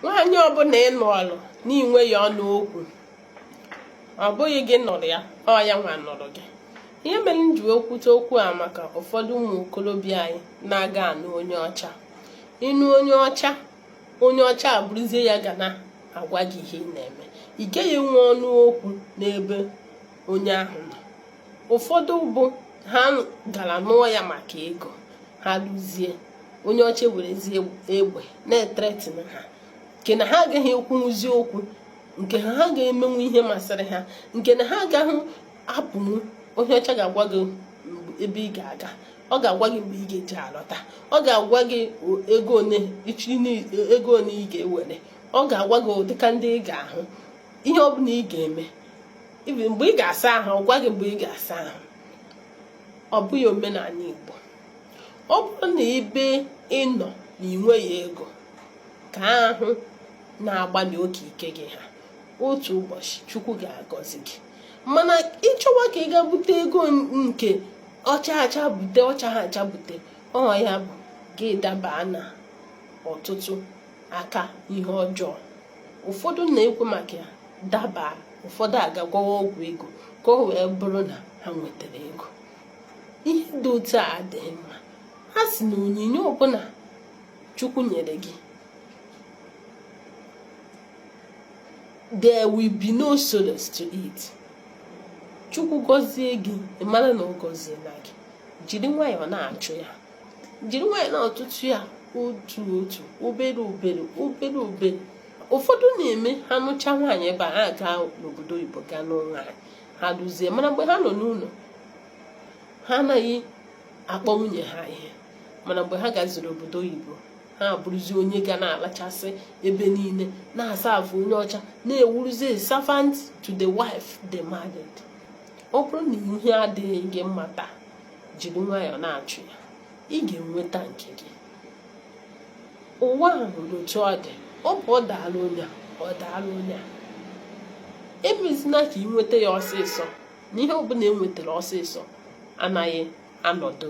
nwaanyị ọbụla ị nụọlụ n'inweghị ọnụ okwu ọ bụghị gị nụrụ ya ọ ya nwa nụrụ gị ihe mere m ji okwute okwu a maka ụfọdụ ụmụ okorobịa anyị na-aga anụ onye ọcha ịnụ onye ọcha onye ọcha abụrụzie ya ga na-agwa gị ihe ị na-eme ị gaghị enwe ọnụ okwu n'ebe onye ahụ nọ ụfọdụ bụ ha gara nụọ ya maka ego ha lụzie onye ọcha werezie egbe na-ethreaten ha nke na ha agaghị ekwunwuzi okwu nke na ha ga-emenwu ihe masịrị ha nke na ha agaghị apụnwu onye ọcha ga-agwa gị ebe ị ga-aga ọ ga-agwa gị mgbe ị ga-eji alọta ọ ga-agwa gị ego one ị ga-ewere ọ ga-agwa gị ụdịka ndị ị ga-ahụ ihe ọ bụla ị ga-eme mgbe ị ga-asa ahụ ọ gwa gị mgbe ị ga-asa ahụ ọ bụghị omenala Igbo ọ bụrụ na ebe ị nọ na ị nweghị ego ka ahụ na-agbalị oke ike gị ha otu ụbọchị Chukwu ga-agọzi gị mana ịchọwa ka ị ga bute ego nke ọ chaa acha bute ọ chaghị acha bute ọ ya bụ gị daba na ọtụtụ aka ihe ọjọọ ụfọdụ na-ekwu maka ya daba ụfọdụ agaa gwọwa ọgwụ ego ka o wee bụrụ na ha nwetara ego ihe dị otu a adịghị mma ha sị na onyinye ọbụla chukwu nyere gị there will be no sorrow to it chukwu gọzie gị ị mara na ọ gọziela gị jiri nwayọọ na-achụ ya jiri nwayọọ na-atụtụ ya otu otu obere obere obere obere ụfọdụ na-eme ha nụcha nwaanyị ebe a ha gaa n'obodo oyibo gaa nụọ nwaanyị ha duzie mana mgbe ha nọ n'ụlọ ha anaghị akpọ nwunye ha ihe mana mgbe ha gaziri obodo oyibo ha abụrụzi onye ga na-alachasị ebe niile na-asa afụ onye ọcha na-ewuruzi servant to the wife they married ọ bụrụ na ihe adịghị gị mma taa jiri nwayọọ na-achụ ya ị ga-enweta nke gị ụwa a nwere otu ọ dị ọ bụ ọ daala onye a ọ daala onye a emezina ka ị nweta ya ọsịsọ na ihe ọbụla enwetara ọsịsọ anaghị anọdụ